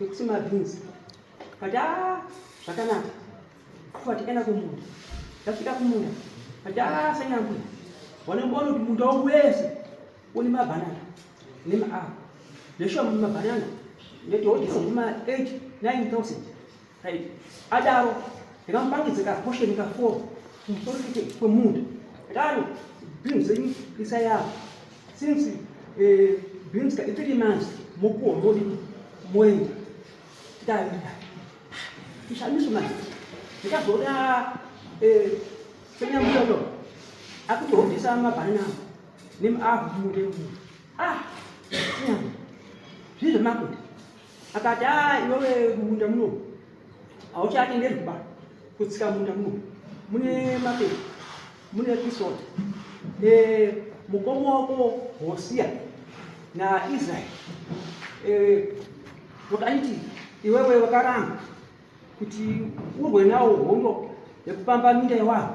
Nekuti mabhinzi but ah zvakanaka kufa tikaenda kumunda tasvika kumunda but ah sanyambo wanomboona kuti munda wangu wese une mabhanana nemaapa zveshuwa mabhanana ndetoodisa zvima 8 9000 right adaro ndikamupangidza kaposheni ka 4 kumusoro kwemunda adaro bhinzi zenyu isa yavo Since eh, beans ka three months mokuwa modi moenda dai ishamiso manje ndikazoda eh, senyambuya uyo akutohobvisa mabhanana nemuahu mune mu ah nyama zvii zvemakuti akati a ah, iwewe munda muno hauchatenderwi ba kutsika munda muno mune mapepa mune episode eh, mukoma wako Hosia na Israel eh, wakaiti iwewe wakaramba kuti urwe nawo hondo yekupamba minda yewanhu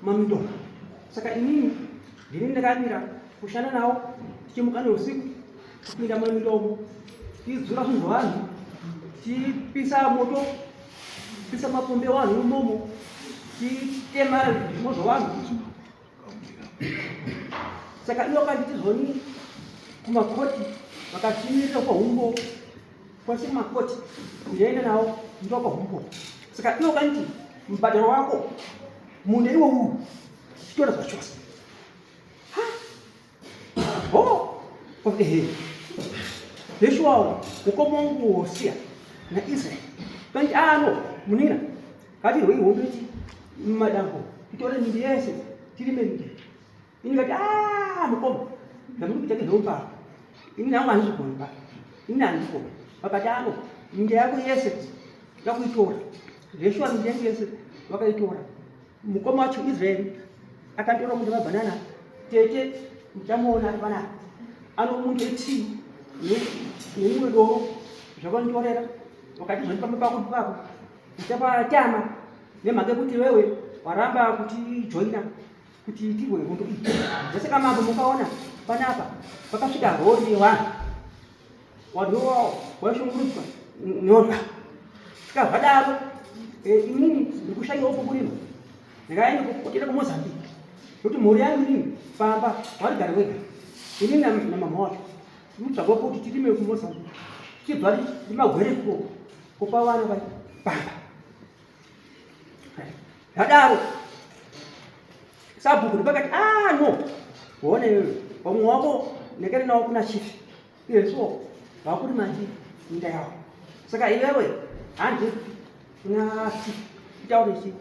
maminda saka inini ndini ndakamira kushanda nawo tichimuka neusiku Kupinda mune milomo, tichidzura zvinhu zvevanhu, tichipisa moto, tichipisa mapombi evanhu imomo, tichitema zvimo zvevanhu. Saka ivo kandi tizoni kumakoti vakatimirira kwa humbo kwese kumakoti kuyaenda navo ndo kwa humbo. Saka ivo kandi mubhadharo wako mune iwo uwu chitora zvachose. Oh, okay. Yesu wao ukoma nguo Hosia na Israel. Kanti ano munina kati rwei hondo iti madambo itore mindi yese tirime mindi. Ini kati ah mukoma ndamuri kuita ngezveupa. Ini nangu handizvigoni ba. Ini handizvigoni. Vakati ano mindi yako yese yakuitora. Yesu mindi yake yese vakaitora. Mukoma wacho Israel akatora munda webhanana tete muchamuona ari panapa anomunde tii neimwe doro zvakanditorera wakati zvandipamba pako ndipako ndichapatama nemhaka yekuti wewe waramba kuti joina kuti itirwe hondo iyi zvese kamambo mukaona panapa pakasvika rori yewanhu wadhowawo waishungurudzwa nyoka tikazvadaro eh, inini ndikushaiwa kukurima ndikaenda kuenda kumozambique nokuti mhuri yangu inini pamba warigari wega inini namama wacho tinotsvagwa kuti tirime kumozambique tichibva rimagwere ikoko kupa vana vai pamba zvadaro sabhuku ndipakati a ah, no hone pamwe wako ndakaenda nawo kuna chifi Iwe so vakuri mati minda yawo saka iwewe handi unati itaure chi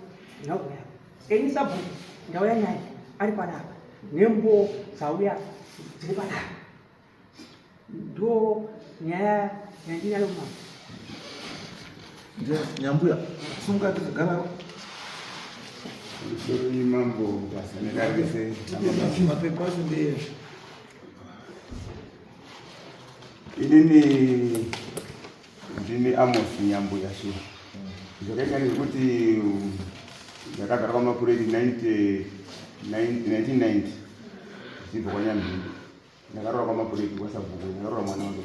nhauya yako enyi sabhuku ndauya nyaya ari panapa nembo dzauya dziri panapa ndo nyaya yandinyalo mama nyambuya sunga tikagara mambo basa nekarise mapepa acho ndeyezvo inini ndini amos nyambuya so zvakaita nekuti ndakagara kwamakureti 1990 zibva kwanyambiri ndakarora kwamakureti kwasabhuku ndakarora mwana wangu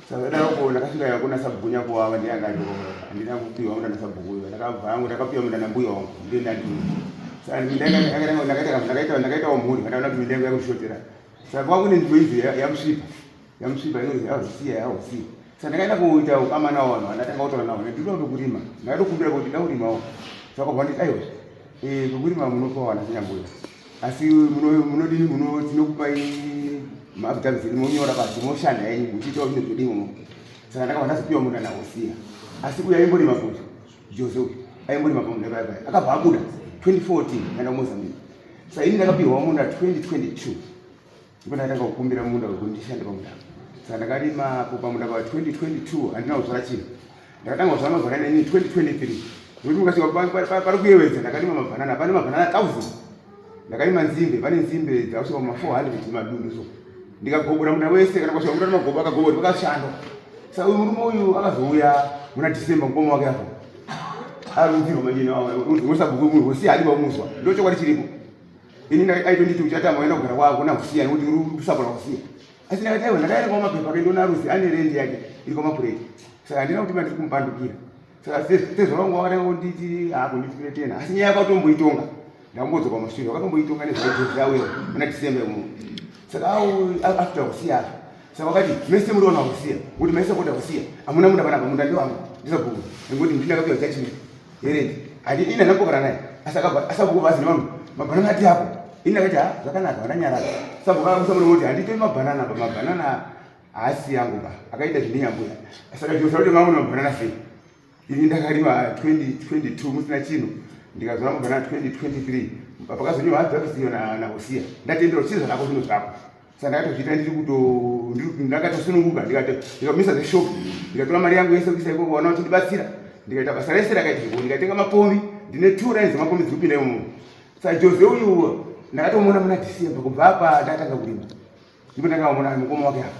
Sakadako ndakasvika yako na sabhuku nyako wava ndiye anga andiko handina kupiwa mudana sabhuku uyo ndakabva hangu ndakapiwa mudana mbuya wangu ndiye ndandi ndakaitawo mhuri vandaona kuti mindango yakushotera saka kwava kune nzvimbo izi yamusvipa yamusvipa inonzi yakusiya yakusiya saka ndakaenda kuita ukama nawo vanhu vandatanga kutaura nawo ndinoda kutokurima ndakatokumbira kuti ndakurimawo saka kwava nditi aiwa Eh, kuri mamwe unopa wana kunyangwe asi munodini muno tinokupai maafidavhisi edu monyora pasi moshanda yenyu muchiitawo zvinhu zvedu imomo saka ndakabva ndazopiwa munda nakusiya asi uyu aimbori makuti jose uyu aimbori mapamunda paya paya akabva abuda 2014 ndaenda kumozambique sa ini ndakapiwa munda 2022 ndipo ndatanga kukumbira munda wekuti ndishande pamunda saka ndakarima apo pamunda pa 2022 handina kuzvara chinhu ndakatanga kuzvara mabhanana ini 2023 nekuti mukasvika pari kuyewedza ndakarima mabhanana pane mabhanana 1000 ndakarima nzimbe pane nzimbe dzakusvika kuma 400 madundu so ndikagobora munda wese kana kwasvika munda nemagobo akagobori pakashando saka uyu murume uyu akazouya muna december mukoma wake apo arunzirwa manyina usabhuku munhu wosiya adi vamuzwa ndochokwadi chiripo ini aitonditi uchatanga waenda kugara kwako nakusiya nekuti usagona kusiya asi ndakati aiwa ndakaenda kwamapepa kendo naruzi ane rendi yake iri kwamapureti saka handina kuti mandiri kumupandukira saka tezvara wangu wakatanga kunditi hakundifiretena asi nyaya yakatomboitonga ndakambodzwa pamashure wakatomboitonga nezvaitozvi awe muna december muno saka au after kusiya saka wakati mese muri wana kusiya kuti mese kuda kusiya amuna munda panapa munda ndiwangu ndisabhuku nekuti ndinakapiwa judgment Eric ati ini ndakambogara naye asi akabva asabhuku bhazi nemamwe mabhanana ati apo ini ndakati ha zvakanaka vandanyarara sabhuku akamusa murume kuti handitoi mabhanana ba mabhanana haasi yangu ba akaita zvindinyambuya asi akajosa kuti mamwe mabhanana sei ini ndakarima 2022 musina chino ndikazora mabhanana 2023 pakazonyiwa hadzi akasiyo na, na usiya ndatendera chii zvanako zvino zvako sandakatozviita ndiri kuto ndakatosununguka ndikato ndikamisa zeshop ndikatora mari yangu yese kuisa ikoko vana vachindibatsira ndikaita basa rese rakaita zviko ndikatenga mapombi ndine two lines dzemapombi dziri kupinda imomo sajose uyu ndakatomuona muna december kubva apa ndatanga kurima ndipo ndakavamona mukoma wake apa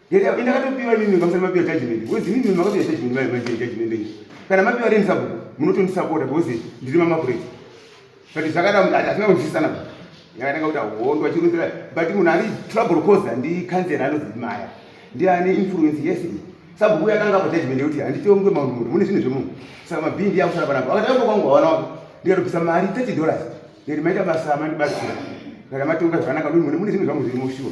Yenda inda kato piwa nini ngamsa ma piwa judge nini. Wezi nini ma kapiwa judge nini ma judge judge nini. Kana ma piwa rin sabu muno tuni support abu wezi ndiri mama kure. But zaka da mdata sina wezi sana. Yaka naka uta hondo achiru zira. But muna ari trouble cause andi kanze rano zi maya. Ndi ani influence yesi. Sabu kuya kanga pa judge nini uti andi tiyo mgwe maunu mune zini zvimu. Sama bindi ya usara banabu. Akata yako kwangu wana wako. Ndi ato pisa mari 30 dollars. Ndi maita basa mani basi. Kana matunga zvanaka mune zini zvimu zvimu shuwa.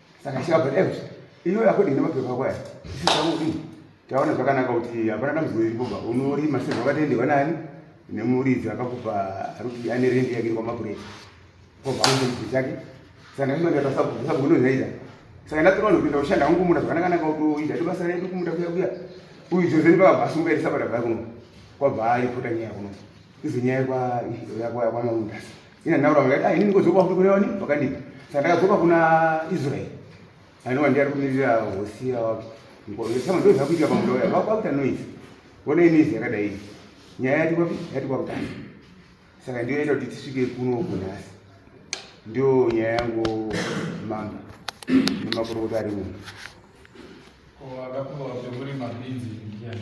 saka chivabva dai iyoyo akodii nemapepa ako aya isisakuii taona zvakanaka kuti hapana dambudziko iri kubva unorima se zvakatendewa nani nemuridzi akakupa arikuti ane rendi yake iri kwamapuresa kobva aunze mubviri chake saka ndaimaaasabunozaita saka ndatoona kupinda kushanda hangu kumunda zvakanakanaka kutoita tobasa redu kumunda kuya kuya uyu jozeni pakabva asungairi sabata vaya kuno kwabva aipota nyaya kuno izo nyaya yakwayakwamaundasi Ina naura vakati, ah, ini ndingozoba futi kune wani vakadii. Saka ndakazoba kuna Israel. Anova ndiye ari kumirira Hosiya wako. Ndosama ndoo zvakuitika pamuda uya, vakuita noise. Vona inoise yakadai. Nyaya yati kwapi? Yati kwakutanga. Saka ndiyo yaita kuti tisvike kuno kunhasi. Ndiyo nyaya yangu mamba. Nemakorokota ari muno. Ko akakuva kuti muri mabinzi ndiani?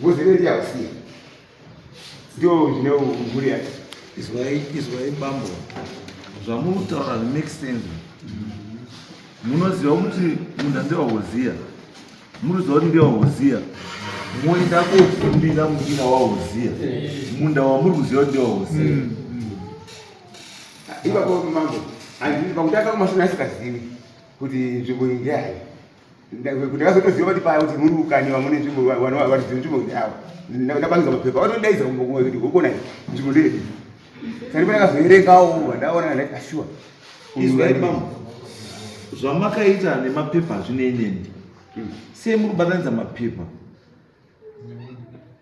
Ngozi inoiti yakusiya. Ndio zvine mhuri yake. Izwai izwai bambo. Zvamunotaura make sense. Munoziva kuti munda ndewa Hozia. Munoziva kuti ndewa Hozia. Moenda kofundira mundira wa Hozia. Munda wamuri kuziva kuti ndewa Hozia. Mm, mm. Ipapo mambo. Andiri pakutanga kumasana asikazivi kuti nzvimbo iyi ndeyayi. ndakazotoziva kuti paya kuti muri ukani vamune nzvimbo vatizivi nzvimbo ndavo ndapangisa mapepa vatondaiza kumbokumwa kuti hokona nzvimbo ndeyedi sani pandakazoerengawo vandaona ndaiti ashuwa izwai mambo zvamakaita nemapepa zvine nende hmm. sei muri kubatanidza mapepa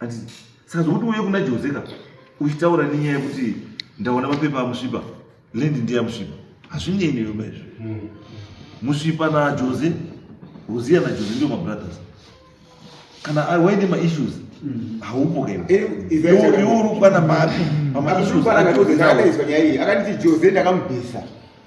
Ati saka zvokuti uye kuna Jose ka uchitaura nenyaya yekuti ndaona mapepa amusvipa lendi ndiye amusvipa hazvinei newe maizvo hmm. musvipa naJose Hosiya naJose ndiwo mabrothers kana waine maissues hmm. haupo kaeurukwana mapi pamaissues akanditi Jose ndakamubvisa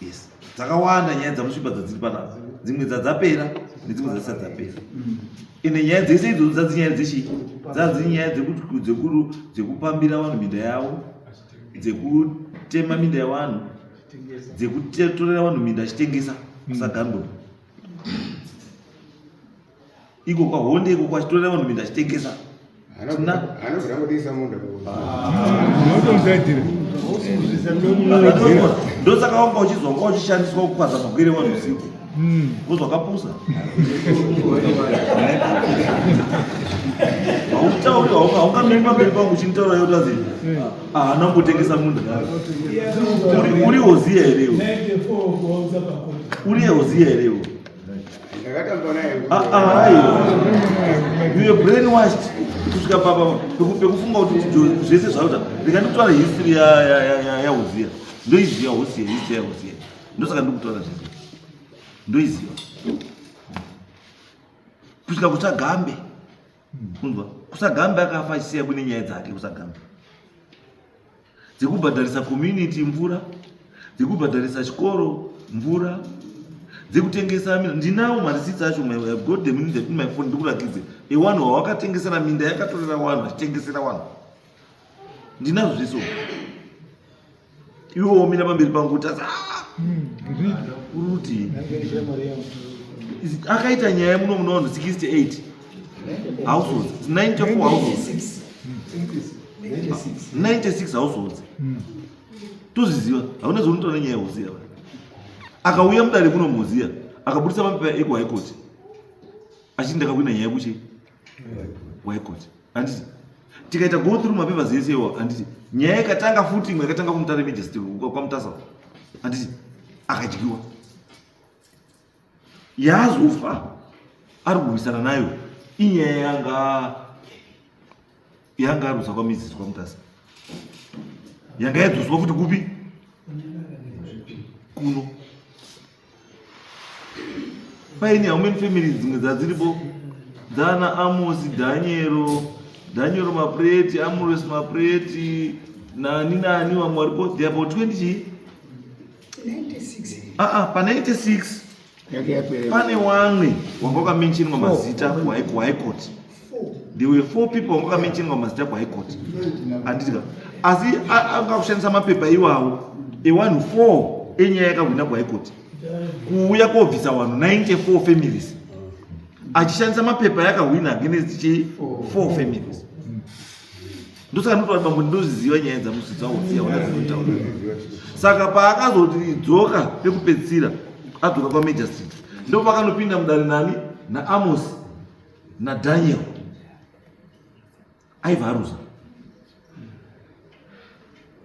yes dzakawanda nyaya dzamusvipa dzadziri panapa dzimwe dzadzapera nedzimwe dzadzisati dzapera mm. ende nyaya dzese idzodzo dzadzinyaya dzechi dzadzinyaya dzekuru dzekupambira vanhu minda yavo dzekutema minda yevanhu dzekutorera vanhu minda achitengesa mm. kusagandura iko kwahonde iko kwachitorera vanhu minda achitengesa anobvira kudisa munda ndosaka wanga uchizwa wanga uchishandiswa kukwaza magwere vanhu usiku vozvakapusa hautauri haukamiri pamberi pangu uchinditaura yoti azi haana kutengesa munda uri hoziya here uri hoziya here kusvika papa pekufunga kuti zvese zvauta rega ndikutaura history yahoziya ndoiziva hosi history yahoziya ndosaka ndikutaura zvese ndoiziva kusvika kusagambe kunzwa kusagambe akafa achisiya kune nyaya dzake kusagambe dzekubhadharisa community mvura dzekubhadharisa chikoro mvura dzekutengesa minda ndinawo marisitsi acho got the minda in my phone ndikurakidze ewanhu wawakatengesera minda yakatorera wanhu achitengesera wanhu ndinazvo zviso iwe womira pamberi pangu kuti asi ah, hmm, akaita nyaya muno muno 168 households 94 households 96 households hmm. tozviziva hauna zvaunotaura nenyaya yehoziya akauya mudare kuno muhoziya akaburitsa mapepa ekuhigh court achiti ndakawina nyaya yekuchi high court handiti tikaita go through mapepers ese iwo handiti nyaya ikatanga futi imwe yakatanga kumutare majestr kwamutasa handiti akadyiwa yaazofa ari kurwisana nayo inyaya yanga yanga arwisa kwamizisi kwamutasa yanga yadzoswa futi kupi kuno paine haumeni family dzimwe dzadziripo dzana amosi dhanyero dhanyero mapureti amores mapureti nani nani vamwe varipo they about 20 chii ah, ah, pa 96 pane wamwe wanga wakamenchenwa mazita kuhigh court there were four people wanga wakamenchenwa mazita kuhigh court anditika asi anga kushandisa mapepa iwawo ewanhu four enyaya yakahwina kuhigh court kuuya kobvisa wanhu 94 families achishandisa mapepa yakahwina against chi four families ndosaka ndoti vanhu ndoziziva nyaya dzamusi dzaoziva ona dzinotaura saka paakazoti dzoka pekupedzisira adzoka kwamajor street ndo pakanopinda mudare nani naamos nadaniel aivharuza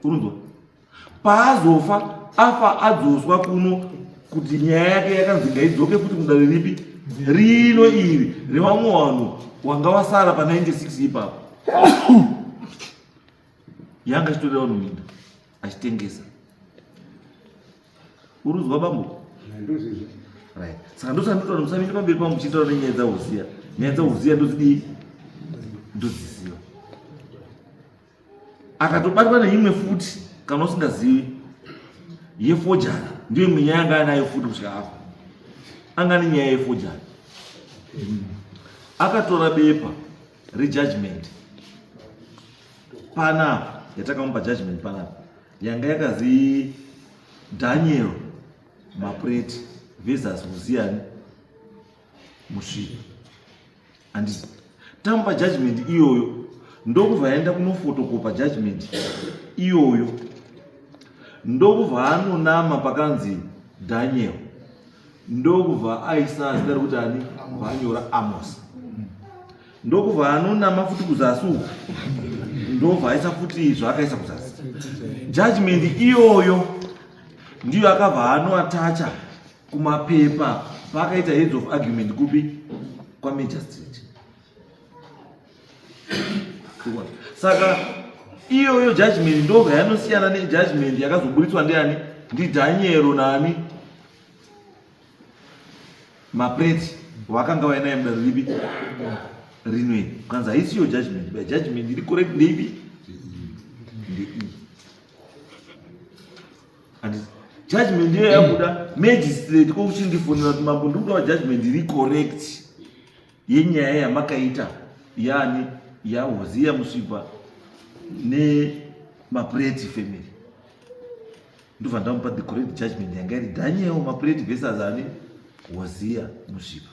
unonzwa paazofa afa adzoswa kuno kuti nyaya yake yakanzi ngaidzoke futi mudare ripi rino iri revamwe vanhu wanga wasara pa 96 ipapo yanga achitorera vanhu minda achitengesa urudzwa bambo right saka ndosaka ndotaura musamire pamberi pangu muchitaura nenyaya dzauziya nyaya dzauziya ndozidii ndodziziva akatobatwa neimwe futi kana usingazivi yefojana ndiyo imwe nyaya anga anayo futi kusvika afa anga ane nyaya yefojana akatora bepa rejudgment panapa yatakamupa judgment panapa yanga yakazi daniel mapreti versus huziyani musvika andisi tamupa judgment iyoyo ndokubva aenda kunofotokopa judgment iyoyo ndokubva anonama pakanzi daniel ndokubva aisa zita rekuti ani bva anyora amos ndokubva anonama futi kuzasi uku ndobva aisa futi zvaakaisa kuzasi judgment iyoyo ndiyo akabva anoatacha kumapepa paakaita heads of argument kupi kwamajor street saka iyoyo judgment ndobva yanosiyana nejudgment yakazoburitswa ndiani ndidhanyero nani mapreti wakanga wainaye muda ripi rinwe kanzi haisiyo judgment by judgment iri correct ndeipi and judgment ndiyo yabuda magistrate kokuchindifonera kuti mambo ndikudawo judgment iri correct yenyaya yamakaita yani yahoziya musvipa nemapureti family ndobva ndamupa the correct judgment yanga iri daniel mapureti versus ani hoziya musvipa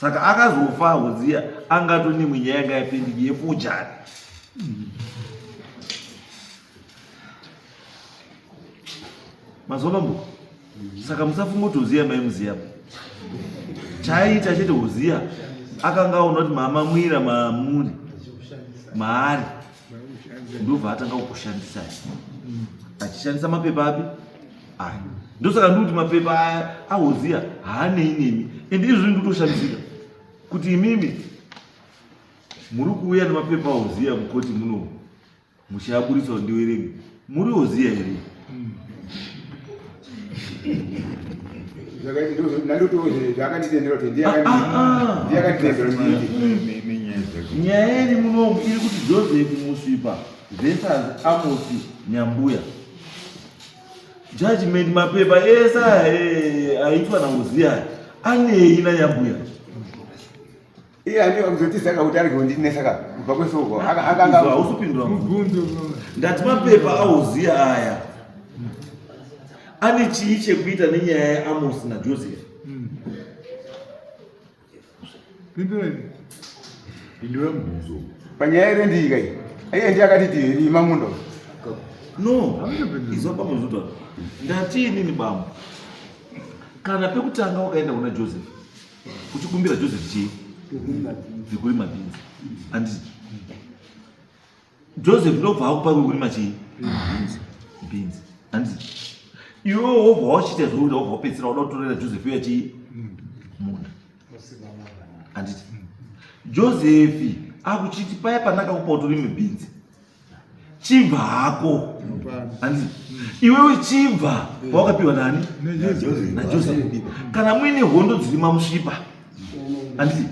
saka akazofa hoziya angatone mwenyaya yanga yapendiki yefujari mazuva mambo saka musafunga kuti hoziya maimuziya chaiita chete hoziya akanga aona kuti mama mwira maamuri maari ndobva atanga kukushandisa mm. achishandisa mapepa api aya ndosaka ndikuti mapepa aya ahoziya haanei nemi and izvi ndikutoshandisika kuti imimi muri kuuya nemapepa ahoziya mukoti muno muchiaburitsa ndiwerenge Muri oziya here? zvakanditendera kuti ndiye akanditendera nyaya iri munomu iri kuti joseph musvipa versus amosi nyambuya judgment mapepa ese eh, aitwa nauziya anei nanyambuya Iye andiwa kuzotiza kuti ari kundinesa ka kubva kwesoko akanga hausipindura mubvunzo ndati mapepa auziya aya ane chii chekuita nenyaya yaAmosi naJoseph hmm. pindura mubvunzo panyaya ire ndiika iyi iye ndiye akati tirima mundo no izwa pamuzutwa ndati inini bambo kana pekutanga wakaenda kuna Joseph Uchikumbira Joseph chii? Zvekurima bhinzi. Anditi. Joseph ndobva akupa kurima chii? Bhinzi. Bhinzi. Anditi. Iwe wobva wachita zvokuti wobva wapedzisira wada kutorera Joseph uya chii? Munda. Anditi. Joseph akuchiti paya pandakakupa utorime bhinzi. chibva hako hanzi iwewe chibva wawakapiwa nani najosefi kana muine hondo dziri mamusvipa handiti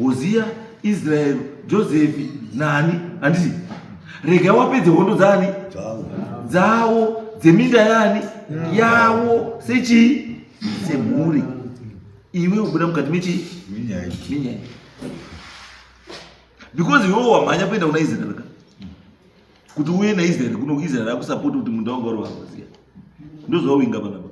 hoziya israeri josefi nani handiti rega wapedze hondo dzaani dzawo dzeminda yani yawo sechii semhuri iwe ubuda mukati mechii minyai because iwewe wamhanya kuenda kuna israel ka kuti uye naisrael kuno israel akusapoti kuti munda wanga uri wahaziya ndozvawinga panapa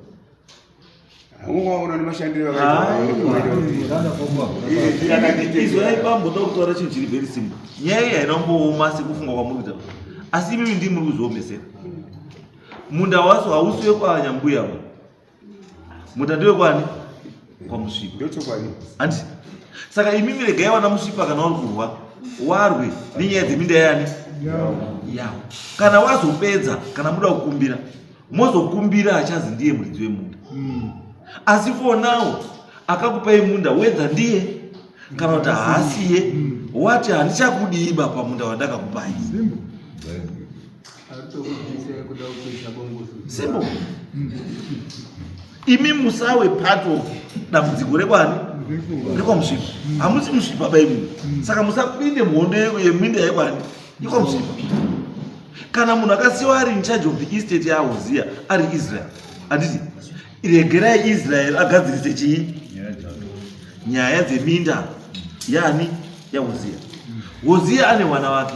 izvo yaipamboda kutaura chinhu chiri very simple nyaya iyi haina kumbooma sekufunga kwamuri kuita asi imimi ndii muri kuzviomesera munda waso hausi wekwanyambuya wa Mudhadhi wekwani? Kwamusvipa. Ndochokwadi. Hanti. Saka imi miregai vana musvipa kana uri kurwa warwe nenyaya dzeminda yani? Yawo. Kana wazopedza kana muda kukumbira mozokumbira achazi ndiye muridzi wemunda. Mm. Asi for now akakupai munda whether ndiye kana kuti haasiye mm. wati handichakudii baba munda wandakakupai. Simple. Simple. Imi musawe part of dambudziko rekwani rekwamusvipa hamusi musvipa baimwe saka musapinde muhondo yeminda yekwani yekwamusvipa kana munhu akasiwa ari in charge of the estate yaahuziya ari israel handiti regerai israel agadzirise chii nyaya dzeminda yani yahoziya hoziya ane mwana wake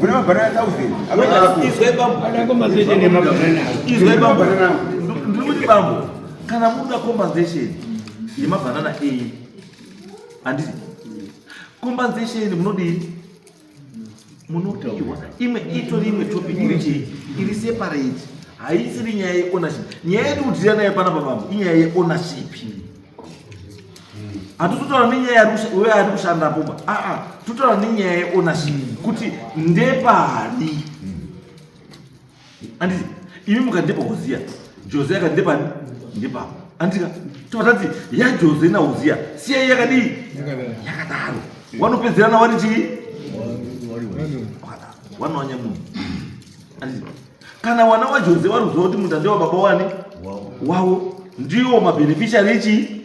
Muna mabanana thousand. Amene ako. Izwe bambo. Ada compensation ne mabanana. Izwe bambo. Ndiri kuti bambo kana muda compensation ye mabanana A. Andisi. Compensation munodii? Munopiwa imwe itori imwe topic iri chii? Iri separate. Haisiri nyaya ye ownership. Nyaya yatikutirana nayo panapa bambo inyaya ye ownership. hatutotaura nenyaya uyo ari kushanda poba aa ah, ah, totaura nenyaya yeonaship mm. kuti ndepani anditi imi mukandepa uziya jose akandepani ndepapa andika tovatati yajose nauziya siyai yakadii yakadaro wanopedzerana wari chii wanonyamuni kana wana wajose wari kuziva kuti mutande wababa wani wavo ndiwo mabeneficiary echi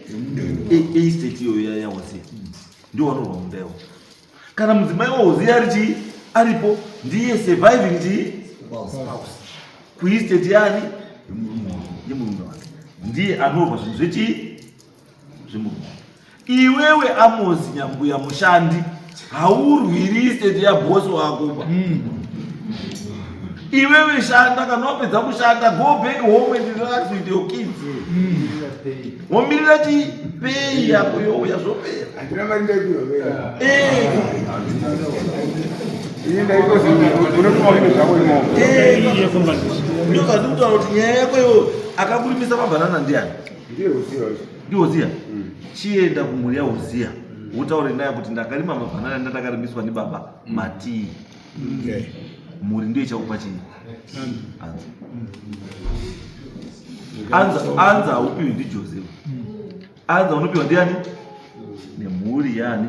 estate iyoyo yawasiya ndiwo wanorwa munda iwo kana mudzimai waoziya ari chii aripo ndiye surviving chii kuestate yani yemurume wake ndiye anorwa zvinhu zvechii Iwewe Amosi nyambuya mushandi haurwiri state ya boss wako ba. Mm. Iwewe shanda kana wapedza kushanda go back home and relax with your kids. Mm. Womirira ti pay yako youya zvopera. Andina mari ndaipiwa vela. Eh. Ini ndaikozi unokuwa kuti zvako imomo. Eh. Ndio kazunguzwa kuti nyaya yako yo akakulimisa mabanana ndiani? Ndiye Uziya uyu. Ndiye Uziya? Mm. Chienda kumhuri ya Uziya. Mm. Utaure naye kuti ndakarima mabanana ndandakarimidzwa ni baba mm. Matii. Mm. Okay. Mhuri ndiyo ichakupa chii? Mm. Anza. Mm. Anza, anza haupiwi ndi Joseph. Mm. Anza unopiwa ndiani? Mm. Nemhuri yani.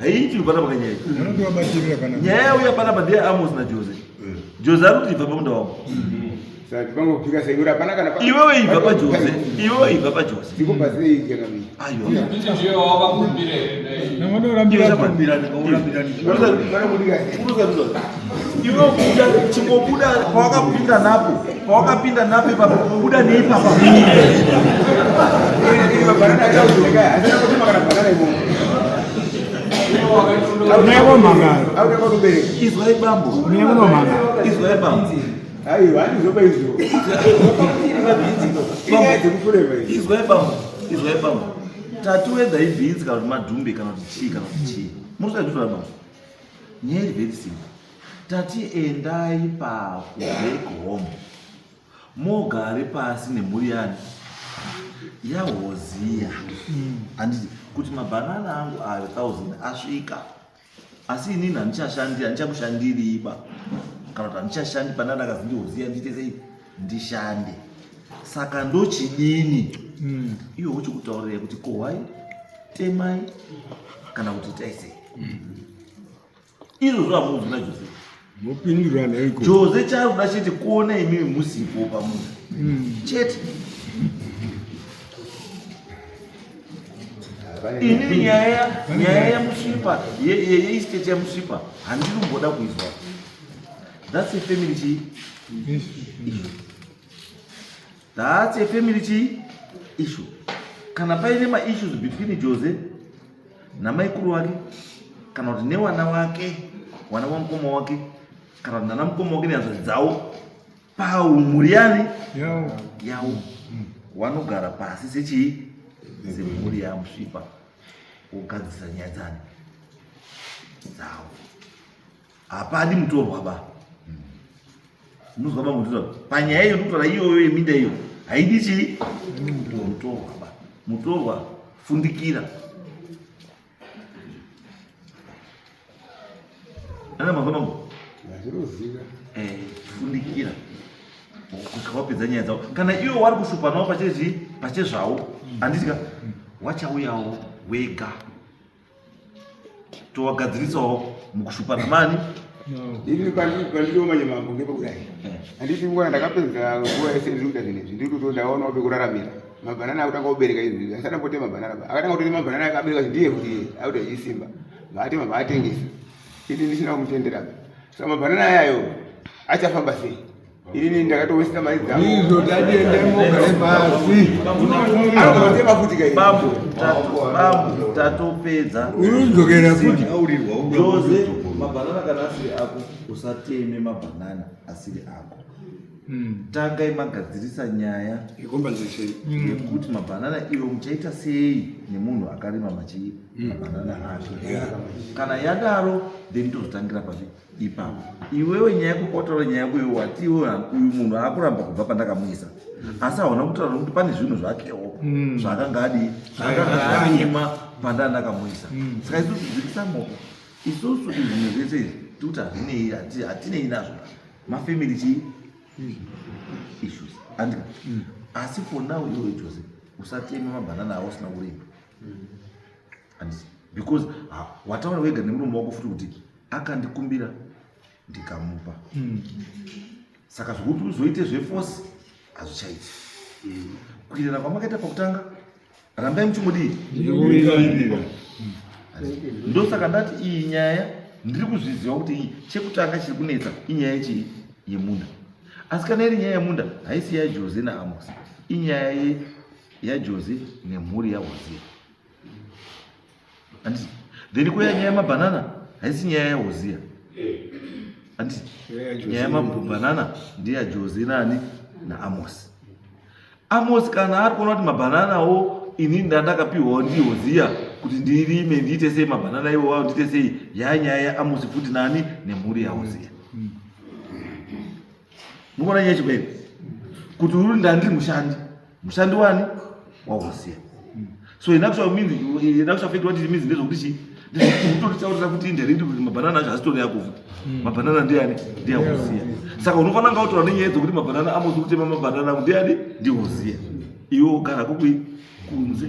haiti kubata pakanyaya nyaya yauya panapa ndiye amos najose eh. jose ari kuti ibva pamunda wangu iwewe ibva pajose iwewe ibva pajose aiwa Iwe kuda chingobuda pawakapinda napo pawakapinda napo ipapo kubuda neipapa izwai bambo izwai bambo aiwa andizoba izvo izwai bambo izwai bambo tatuwedza ibhinzi kana kuti madhumbe kana kuti chii kana kuti chii murisai zvitoa bambo Nyaya iri very simple. Tati endai paku back home mogare pasi nemhuri yani yahoziya handiti kuti mabhanana angu ayo thousand asvika asi inini handichashandiri handichakushandiriba kana kuti handichashandi panana akazi ndihoziya ndiite sei ndishande saka ndochidini mm. iwe uchikutaurira kuti kohwai temai kana kuti itai sei mm. izvo zvamuudzi najose mopindurana iko jose chari kuda chete kuona imimi musipo pamunhu mm. chete ini nyaya nyaya yamusvipa yeisteti yamusvipa handinomboda kuizwa That's a family chii? Issue. That's a family chii? Issue. Kana paine ma issues between Jose namaikuru wake kana kuti newana wake wana wamukoma wake kana kuti nanamukoma wake nehanzvadzi dzawo pamhuri yani yawo hmm. wanogara pasi sechii semhuri yamusvipa wogadzisa nyaya dzani dzawo hapadi mutorwa ba ndinozwa ba mutorwa panyaya iyo ndikutora iyoyo yeminda iyo haidi chii mutorwa ba mutorwa fundikira ana mazwa mangu eh, fundikira kusvika wapedza nyaya dzavo kana iwo wari kushupanawo pachezvii pachezvawo handiti ka wachauyawo wega towagadzirisawo mukushupa namani ini panditomanye mambo ngepakudai eh. handiti nguva ndakapedza nguva yese ndikuita zvinhu izvi ndiri kuto ndaona wabe kuraramira mabhanana akutanga kubereka izvi asana pote mabhanana akatanga kutoti mabhanana akabereka izvi ndiye kuti akuita zvisimba vaatema vaatengesa ini ndisina kumutendera sa mabhanana ayayo achafamba sei Ini ndakatowesita mari dzangu. Ndizvo tatiende mugare pasi. Anotema futi kai. Babu, babu tatopedza. Unodzokera futi. Jose, mabanana kana asiri ako usateme mabanana asiri ako. Hmm. Tanga imagadzirisa nyaya yecompensation hmm. yekuti mabanana iwo muchaita sei nemunhu akarima machi hmm. mabanana ake. Kana yadaro then tozotangira papi ipapo iwewe nyaya yako kwataura nyaya yako iwe wati iwe uyu munhu akuramba kubva pandakamuisa asi hauna kutaura nokuti pane zvinhu zvakewo mm. zvaakanga adii zvaakanga anyima pandanga ndakamuisa mm. saka isu tidzikisa moko isusu izvinhu zvese izvi tikuti hazvinei hatinei nazvo mafamily chii mm. issues andika asi for now iwe jose usatema mabhanana awo usina kurima and because ah, wataura wega nemurume wako futi kuti akandikumbira ndikamupa mm. saka zvekuti uzoite zveforce hazvichaiti mm. kuirana kwamakaita pakutanga rambai muchimudii ndosaka ndati iyi nyaya ndiri kuzviziva kuti iyi chekutanga chiri kunetsa inyaya yechii yemunda asi kana iri nyaya yemunda haisi yajose naamos inyaya yajose nemhuri yahoseya Anditi. Then kuya nyaya yemabanana haisi nyaya yaHoziya. Anditi. Nyaya yemabanana ndiya Jozi nani naAmosi. Amosi kana ari kuona kuti mabananawo ini ndandakapiwawo ndihoziya kuti ndirime ndiite sei mabhanana iwo wavo ndiite sei yanyaya amusi futi nani nemhuri yahoziya Mukuona nyaya chikweni kuti uri ndandiri mushandi mushandi wani wausiya so in actual means in actual fact what it means ndezvokuti chii ndizvikutotaurira kuti indirectly kuti mabhanana acho asitori yako futi hmm. mabhanana ndiani ndiyakuziya saka unofanira nga utora nenyaya dzokuti mabhanana amozi kutema mabhanana ndiani ndiyoziya iwe ugara kukui kunze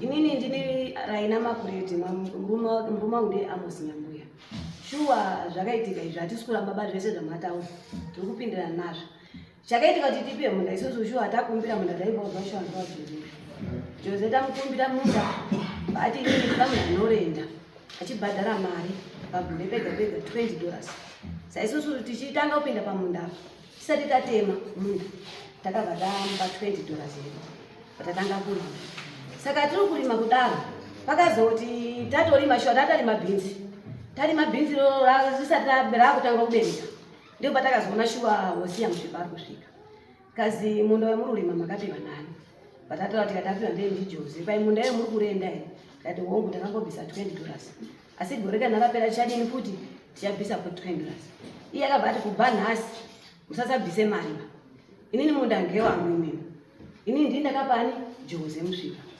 inini ndini raina makureti murume wangu ndiye amosi nyambuya shuwa zvakaitika izvi hatisi kuramba ba zvese zvamataura tiri kupindirana nazvo chakaitika kuti tipiwe munda isusu shuwa takumbira munda taivaudza shuwa ndivajoze joze tamukumbira munda ati inini ndamuna norenda achibhadhara mari pagore pega pega 20 dollars saisusu tichitanga kupinda pamunda tisati tatema munda takabva tamupa 20 dollars yedu patatanga kurima saka tiri kurima kudaro pakazoti tatorima shuwa tatarima bhinzi tarima bhinzi risati rakutanga kubereka ndipo patakazoona shuwa wosiya muzvibari kusvika Kazi munda wemururima makapiwa nani? Vatatu vati katapiwa ndiye ndiJoze. Pai munda iye muri kurenda here? Ndati hongu takangobvisa 20 dollars. Asi gore kana rapera tichadini futi? Tichabvisa ku 20 dollars. Iye akabva ati kubva nhasi musasabvise mari. Inini munda ngewangu imimi. Inini ndini ndakapani Joze musvika.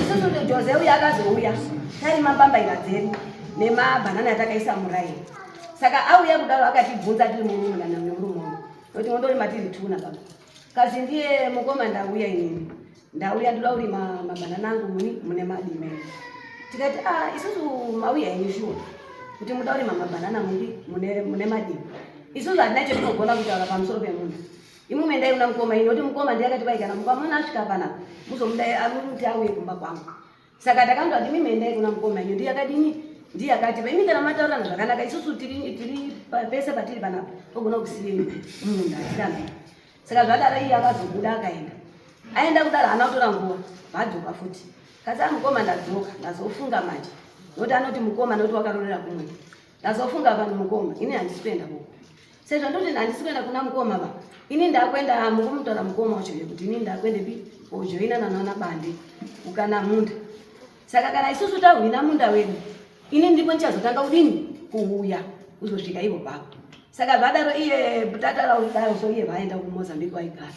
isusu ndijoze uya akazouya tari mambambaira dzedu nemabhanana atakaisa muraini saka auya kudaro akatibvunza tiri mumumunana memurume uno noti mondorima tiri tuna baba kazi ndiye mukoma ndauya inini ndauya ndoda kurima mabhanana angu muni mune madime tikati a ah, isusu mauya ini shuwa kuti muda kurima mabhanana muni mune madime isusu hatina chetinogonda kutaura pamusoro pemunhu Imwimwe ndai una mukoma ini noti mukoma ndiye akati vaikana mukoma mwana asvika pana muzomudai amuti auye kumba kwangu. Saka takanzwa kuti imwimwe ndai kuna mukoma ini ndiye akadini ndiye akati paimi kana mataurirana zvakanaka isusu tiri tiri pese patiri panapa pogona kusiyeni munhu atirana. Saka zvadaro iye akazobuda akaenda. Aenda kudaro hana kutora nguva vadzoka futi. Kasi amukoma ndadzoka ndazofunga manje. Noti anoti mukoma noti wakarorera kumwe. Ndazofunga vanhu mukoma, ini handisi kuenda kuko. Sezvo ndoti handisi kuenda kuna mukoma va, ini ndakuenda mukumutaura mukoma wacho kuti ini ndakuenda pi kojoina nanaona bande ukana munda. Saka kana isusu tahwina munda wedu, ini ndipo ndichazotanga kudini kuuya kuzosvika ivo pako. Saka vadaro iye butata raudaro so iye vaenda kuMozambique waigara.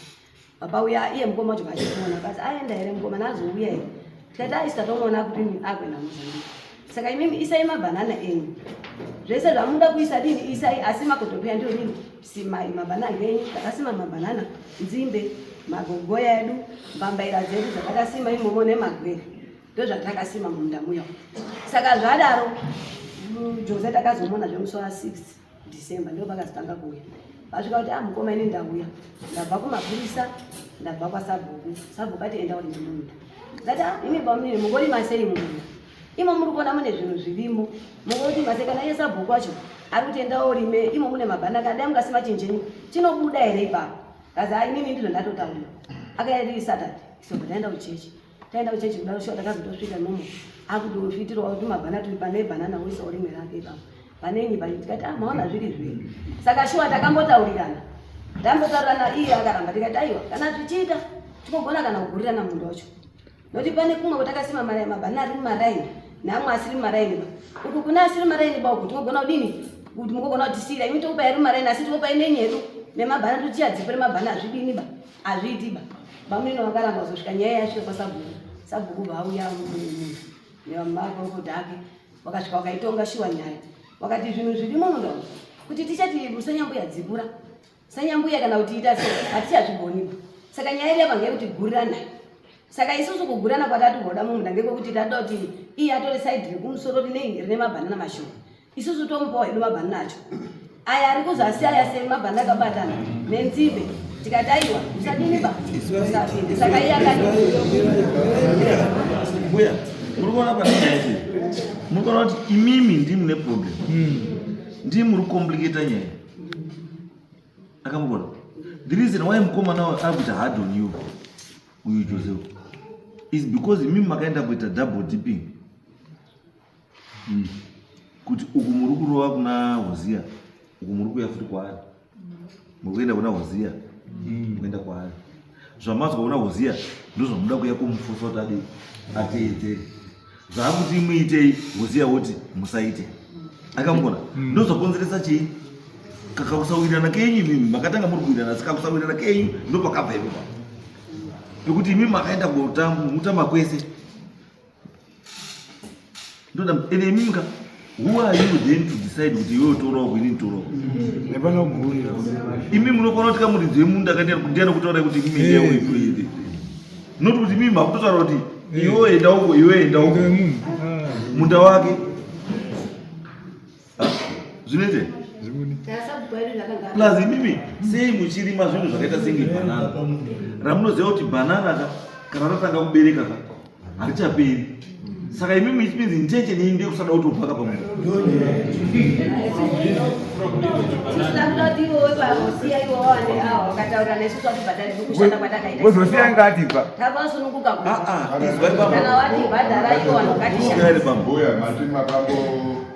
baba uya iye mukoma wacho vachikuona kasi aenda here mukoma nazouya here tikati aisi tatomuona kuti akuenda muzambia saka imimi isai mabhanana enyu zvese zvamuda kuisa dini isai asi makotopeya ndiyo nini simai mabhanana enyu takasima mabhanana nzimbe magogoya edu mbambaira dzedu dzatakasima imomo nemagwere ndozvatakasima mumunda muya saka zvadaro mm, jose takazomuona zvemusi wa 6 December ndipo pakazotanga kuuya vasvika kuti ah mukoma ini ndauya ndabva kumapurisa ndabva kwasabhuku sabhuku ati enda uri nemunda ndati ah ini bamnini mungori masei mumunda imo muri kuona mune zvinhu zvirimo mungoti masei kana iye sabhuku wacho ari kuti enda orime imo mune mabhanaka dai mungasima chinjenyu chinobuda here ipapo kazi ah inini ndizvo ndatotaura akaenda iri saturday so ndaenda kuchechi taenda kuchechi kudaro shuwa takazotosvika nomo akutozviitirwa kuti mabhana tiri pane bhanana woisa urimwe rake ipapo vanenyi pai tikati ah maona zviri zviri saka shuwa takambotaurirana ndambotaurirana iye akaramba tikati aiwa kana zvichiita tinogona kana kugurirana munhu wacho nokuti pane kumwe kwatakasima maraini mabhana ari mumaraini neamwe asiri mumaraini ba kuti kune asiri maraini ba kuti tinogona kudini kuti mukogona kutisiyira imi tokupai ari maraini asi tikopai nenyedu nemabhana totichadzipere mabhana azvidini ba Hazviiti ba. Bamneno vakaramba kuzosvika nyaya yasvika kwasabhuku. Sabhuku vauya munhu nemakorokota ake wakasvika wakaitonga shuwa nyaya. Wakati zvinhu zvirimo munda umu kuti tichati musanyambuya dzikura. Sanyambuya kana kuti ita sei hatichazvigoni ba. Saka nyaya iri yabva ngeyekuti gurirana. Saka isusu kugurana kwatati kugoda mumunda ngekwekuti tatoda kuti iye atore side rekumusoro rine rine mabhanana mashoma. isusu tomupawo hedu mabhanana acho aya ari kuzasi aya semabhanana akabatana nenzimbe tikati aiwa musadiniba saka iye akati mbuya muri kuona panaiti muri kuona kuti imimi ndii mune problem hmm. ndii muri kucomplicata nyaya akamugona the reason why mukomana wayo ari kuita hard on you uyu joseph is because imimi makaenda kuita double dipping mm. kuti uku muri kurova kuna hoziya uku muri kuya futi kwaari muri kuenda kuna hoziya mm. kuenda kwaari zvamanzwa kuna hoziya ndozvamuda kuya kumufosa kuti adi ateedzere zvaakuti muitei hoziya woti musaite akamugona mm. ndozvakonzeresa chii kakakusawirana kenyu imimi makatanga muri kuwirana asi kakusawirana kenyu ndopakabva ipopa nekuti imimi makaenda kutamba kwese ndoda ende imimi ka who are you then to decide kuti iwe utourawo kwini nditourawo hapana guri imi munokona kuti kamuridzi wemunda kandiana kutaura kuti imimi endea uipuide not kuti imimi hakutotaura kuti iwe enda uko iwe enda uko munda wake zvinoite plus imimi sei muchirima zvinhu zvakaita senge banana ramunoziva kuti banana ka kana ratanga kubereka ka harichaberi saka imimi it means intention yenyu ndekusada kuti upaka pamwe wozosiya ngati pa izwai bambo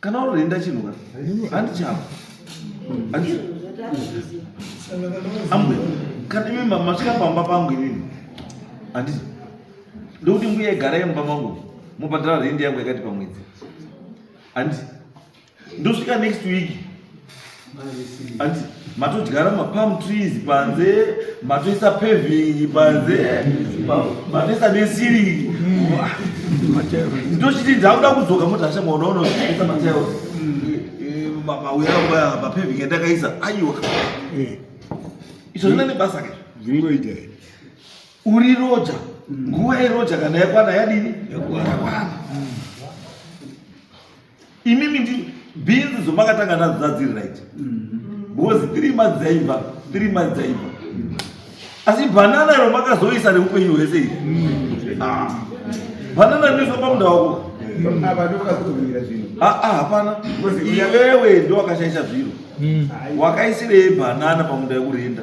Kana uri rinda chinhu ka? Handi chako. Handi. Amwe. Kana imi masvika pamba pangu imi. Handi. Ndokuti mbuya igara yemba mangu. Mubhadhara rindi yangu yakati pamwedzi. Handi. Ndosvika next week. Anti, matodyara mapalm trees panze matoisa paving panze matoisa nesiri ndochiti ndakuda kudzoka mutasha mwaona unoisa matail mauya mapaving andakaisa aiwa izvo zvina nebasa ke zvingoita uri roja nguva yeroja kana yakwana yadini yakwana imimi ndi bhinzi dzomakatanga nadzo dzadziri right mm-hmm. because three months dzaibva three months dzaibva asi bhanana iro makazoisa neupenyu hwese iri mm-hmm. ah. bhanana rinoiswa pamunda wako mm-hmm. ah, ah, hapana iwewe ndo wakashaisa zviro wakaisirei bhanana pamunda yekurinda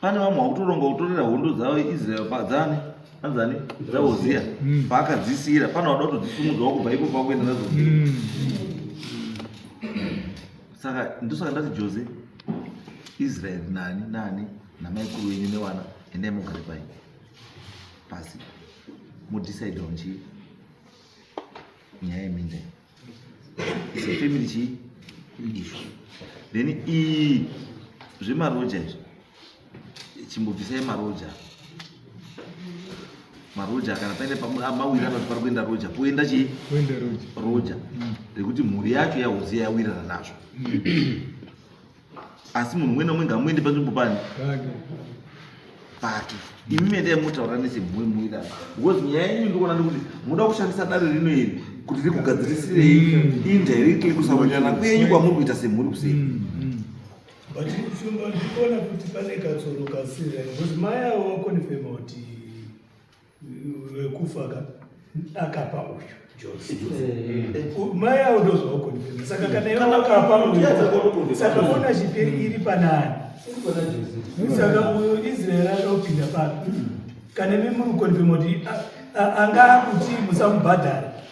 pane vamwe vakutoronga kutorera hondo dzavo israel padzani anzani dzaoziya mm. paakadzisiyira pane vada kutodzisumudzawo kubva ipo pakuenda nadzo mm. saka ndosaka ndati jose israel nani nani namaikuru wenyu nevana endai mugare pai pasi mudecide onji nyaya yeminda sefamily chii izvo then iyi zvemaroja izvo chimbobvisai maroja maroja kana paine mawirana kuti pari kuenda roja poenda chii roja rekuti mhuri yacho yahoziya yawirana nazvo asi munhu umwe nomwe ngamuende panzvimbo pani pake imi mendai motaura nesemhurmuira because nyaya yenyu ndikuona ndikuti munoda kushandisa dare rino iri kuti rikugadzirisirei mm. indirectly kusarurirana kwenyu kwamuri kuita semhuri kusei mm, mm. but shumba ndikuona kuti pane katsoro kasira because mai avo vakonifema kuti vekufa ka akapa uyu Jose mai avo ndozvavo konfirma saka kana ivo vakapa uyu saka ona chipiri iri panani saka uyo israel anopinda papi kana imi muri konfirma kuti anga akuti musamubhadhara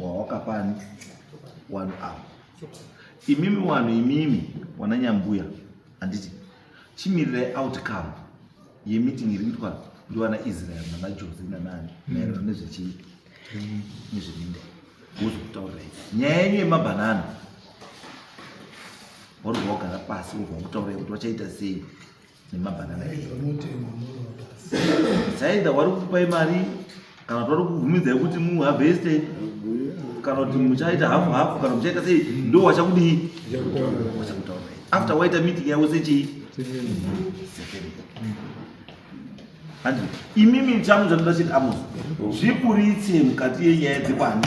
wawakapani wanu awa imimi wanu imimi wana nyambuya handiti chimirirai outcome yemeeting iri kuitwa ndiwana israel nana jose nanani mm. maererano nezvechii mm. nezveminda wozokutaurai nyaya yenyu yemabhanana waruva wagara pasi wobva wakutaurai kuti vachaita sei nemabhanana saida wari kukupai mari kana kuti wari kukubvumidza yekuti muhavheste kana kuti muchaita hafu hafu kana muchaita sei ndo wachakudii wachakutaura after waita meeting yavo sechii imimi changu chandoda chiti amos zviburitse mukati yenyaya dzekwani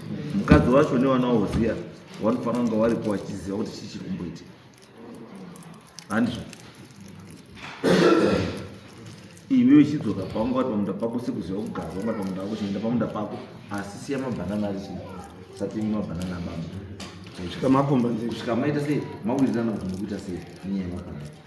mukadzi wacho nevana wavo ziya vanofanira kunge varipo vachiziva kuti chii chiri kumboitika handizvo iwe uchidzoka pangu wati pamunda pako sekuziva kugara wangu wati pamunda wako chinoenda pamunda pako asi siya mabhanana ari chii satimi mabhanana amama kusvika makomba kusvika maita sei mawirirana kuti mukuita sei nenyaya yemabhanana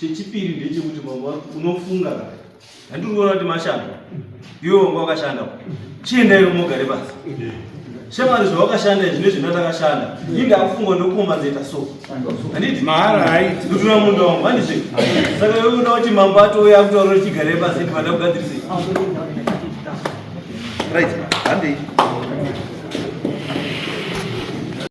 Chechipiri ndechekuti mambo unofunga ka. Handiri kuona kuti mashanda. Iwe wanga wakashanda. Chienda iwe mogare basi. Shemari zvawakashanda izvi nezvi ndatakashanda. Inga akufunga ndokoma zeta so. Handiti mahara haiti. Ndutuna munda wangu handiti. Saka iwe unoda kuti mambo atouya kutaura chigare basi kuti vada kugadzirisa. Right. Handei.